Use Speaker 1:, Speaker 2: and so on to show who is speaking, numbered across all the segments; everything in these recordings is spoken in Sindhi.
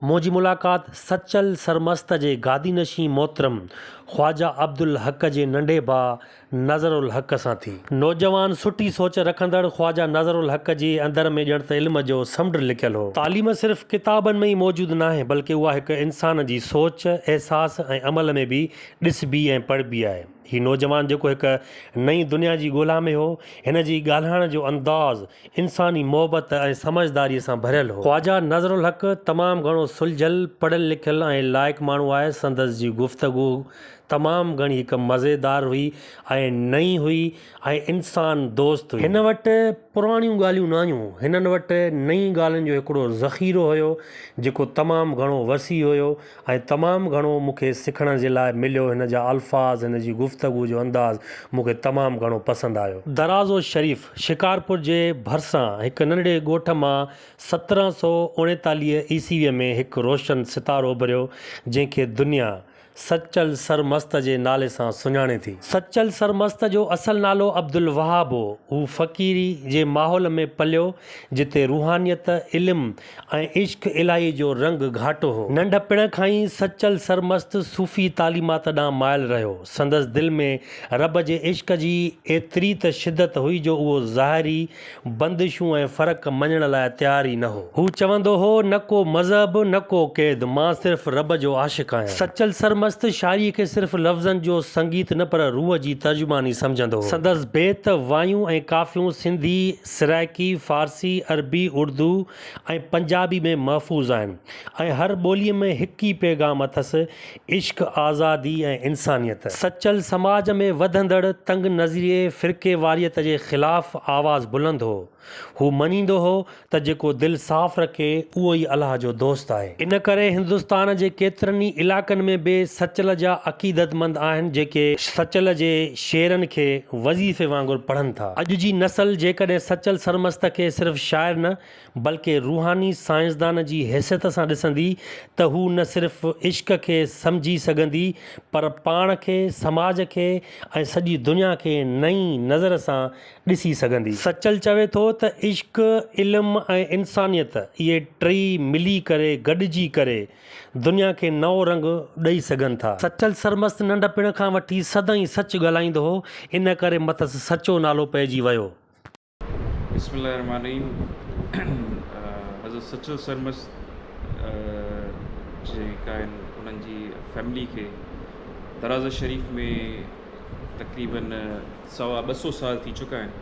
Speaker 1: منهنجي ملاقات سچل سرمست جي گادي نشين محترم خواجه عبدالحق جي ننڍي ڀاء نظر الحق سان ٿي. نوجوان سٺي سوچ رکندڙ خواجه نظر الحق جي اندر ۾ ڄڻ ته علم جو سمنڊ لڪيل هو. تعليم صرف ڪتابن ۾ ئي موجود ناهي بلڪه اها هڪ انسان جي سوچ، احساس ۽ عمل ۾ به ڏسبي ۽ پڙهبي آهي. هي نوجوان جيڪو هڪ نئين دنيا جي ڳولا ۾ هو، هن جي ڳالهائڻ جو انداز انساني محبت ۽ سمجهداريء سان ڀريل هو. خواجه نذرالحق تمام گهڻو سلجهيل، پڙهيل لکيل ۽ لائق ماڻهو آهي، سندس جي گفتگو تمام گهڻي هڪ مزيدار هئي ۽ نئين هئي ۽ انسان دوست هئي. هن وٽ پراڻيون ڳالهيون نه هيون، هنن وٽ نئين ڳالهين جو هڪڙو ذخيرو هيو، جيڪو تمام گهڻو وسيع هيو. ۽ تمام گهڻو مون کي سکڻ جي لاء مليو هن جا الفاظ هن جي گفتگو جو انداز مون کي تمام گهڻو پسند آيو. درازو شريف شڪارپور جي ڀرسان هڪ ننڍڙي ڳوٺ مان سترهن سؤ اڻيتاليهه عيسويء ۾ هڪ روشن ستارو اڀريو جنهن کي دنيا سچل سرمست جي نالي سان سڃاڻي ٿي. سچل سرمست جو اصل نالو عبدالوهاب هو. هو فقيري جي ماحول ۾ پليو جتي روحانيت، علم ۽ عشق الاهي جو رنگ گهاٽو هو. ننڍپڻ کان ئي سچل سرمست صوفي تعليمات ڏانهن مائل رهيو. سندس دل ۾ رب جي عشق جي ايتري ته شدت هئي جو اهو ظاهري بندشون ۽ فرق مڃڻ لاء تيار ئي نه هو. هو چوندو هو، نه ڪو مذهب، نه ڪو قيد، مان صرف رب جو عاشق آهيان. سچل سرمست شاعريء کي صرف لفظن جو سنگيت نه پر روح جي ترجماني سمجهندو هو. سندس بيت، وايون ۽ ڪافيون سنڌي سرائڪي، فارسي، عربي، اردو ۽ پنجابي ۾ محفوظ آهن ۽ هر ٻوليء ۾ هڪ ئي پيغام اٿس، عشق، آزادي ۽ انسانيت. سچل سماج ۾ وڌندڙ تنگ نظريء فرقيواريت جي خلاف آواز بلند هو. هو مڃيندو هو ته جيڪو دل صاف رکي، اهو ئي الله جو دوست آهي. ان ڪري هندستان جي ڪيترن ئي علائقن ۾ به سچل جا عقيدتمند آهن، جيڪي سچل جي شعرن کي وظيفي وانگر پڙهن ٿا. اڄ جي نسل جيڪڏهن سچل سرمست کي صرف شاعر نه بلڪه روحاني سائنسدان جي حيثيت سان ڏسندي ته هو نه صرف عشق کي سمجهي سگهندي پر پاڻ کي، سماج کي ۽ سڄي دنيا کي نئين نظر سان ڏسي سگهندي. سچل چوي ٿو ته عشق، علم ۽ انسانيت اهي ٽئي ملي ڪري، گڏجي ڪري، دنيا کي نئون رنگ ڏئي سگهن ٿا. سچل سرمست ننڍپڻ کان وٺي سدائين سچ ڳالهائيندو هو، ان ڪري مٿس سچو نالو پئجي ويو. بسم الله الرحمٰن
Speaker 2: الرحيم حضرت سچل سرمست جيڪا آهن انهن جي فيملي کي درازه شريف ۾ تقريبن سوا ٻه سو سال ٿي چڪا آهن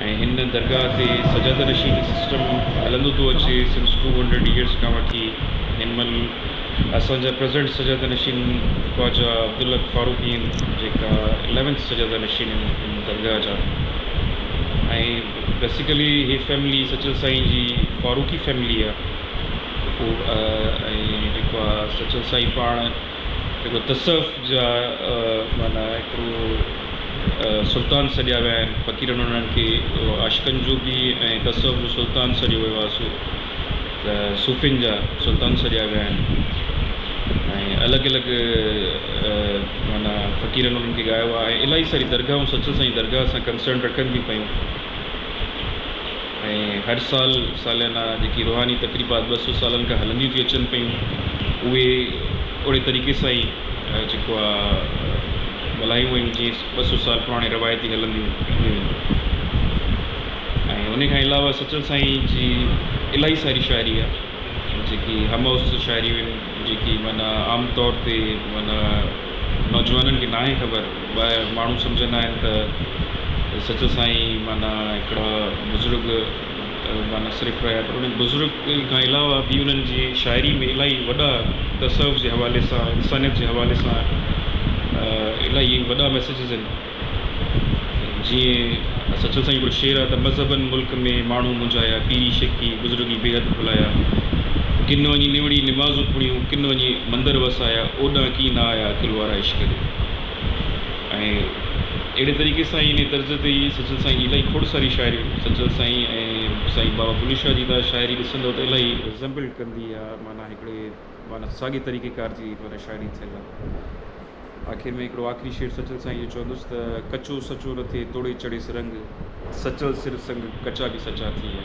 Speaker 2: ۽ هن درگاهه تي سجاده نشين جو سسٽم هلندو ٿو اچي سنس ٽو هنڊريڊ ايئرس کان وٺي هن مهل اسان جا پريزنٽ سجاده نشين خواجه عبدالحق فاروقي آهن جيڪا اليونٿ سجاده نشين آهن هن درگاهه جا ۽ بيسيڪلي هي فيملي سچل سائين جي فاروقي فيملي آهي ۽ جيڪو آهي سچل سائين پاڻ جيڪو تصوف جا معنيٰ هڪڙو سلطان سڏيا ويا آهن فقيرن انهن کي عاشقن جو به ۽ تصوف جو سلطان سڏيو ويو آهي سو ته صوفين جا سلطان سڏيا ويا آهن ۽ الڳ الڳ معنيٰ فقيرن انهن کي ڳايو آهي ۽ الاهي ساري درگاهون سچل سائين جي درگاهه سان ڪنسرن رکن ٿيون پيون. ۽ هر سال ساليانا جيڪي روحاني تقريبات ٻه سؤ سالن کان هلنديون ٿيون اچن پيون اهي اوڙي طريقي سان ئي جيڪو آ ملهايون ويون جيئن ٻه سؤ سال پراڻي روايتي هلنديون اينديون هيون ۽ ان کان علاوه سچل سائين جي الاهي ساري شاعري آ جيڪي هم عصر شاعريون آهن جيڪي معنيٰ عام طور تي معنيٰ نوجوانن کي ناهي خبر ٻاهر ماڻهو سمجهندا آهن ته سچل سائين معنيٰ هڪڙا بزرگ معنيٰ صرف رهيا پر انهن بزرگ کان علاوه به انهن جي شاعري ۾ الاهي وڏا تصوف جي حوالي سان انسانيت جي حوالي سان الاهي وڏا ميسيجز آهن جيئن سچل سائين هڪڙو شعر آهي ته مذهبن ملڪ ۾ ماڻهو منجهايا پيري شيخي بزرگي بيحد ڀلايا ڪن وڃي نوڙي نمازون پڙهيون ڪن وڃي مندر وسايا اوڏانهن ڪي نه آيا عقل وارا. فرمائش ڪري ۽ اهڙي طريقي سان ان طرز تي ئي سچل سائين جي الاهي کوڙ ساري شاعري سچل سائين ۽ سائين بابا بلي شاهه جي تان شاعري ڏسندو ته الاهي ريزمبلڊ ڪندي آ معنيٰ هڪڙي معنيٰ ساڳي طريقي ڪار جي معنيٰ شاعري ٿيل آ آخر ۾ هڪڙو آخري شعر سچل سائين جو چوندس ته ڪچو سچو نه ٿئي توڙي چڙهيس رنگ سچل سر سنگ ڪچا به سچا ٿي ويا.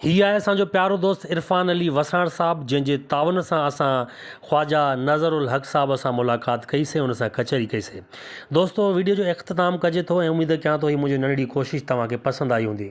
Speaker 1: هي آهي اسان جو پيارو دوست عرفان علي وساڻ صاحب جنهن جي تعاون سان اسان خواجه نظر الحق صاحب سان ملاقات ڪئي سي ان سان ڪچهري ڪئي سي دوستو ويڊيو جو اختتام ڪجي ٿو ۽ اميد ڪيان ٿو هي منهنجي ننڍڙي ڪوشش توهان کي پسند آئي هوندي.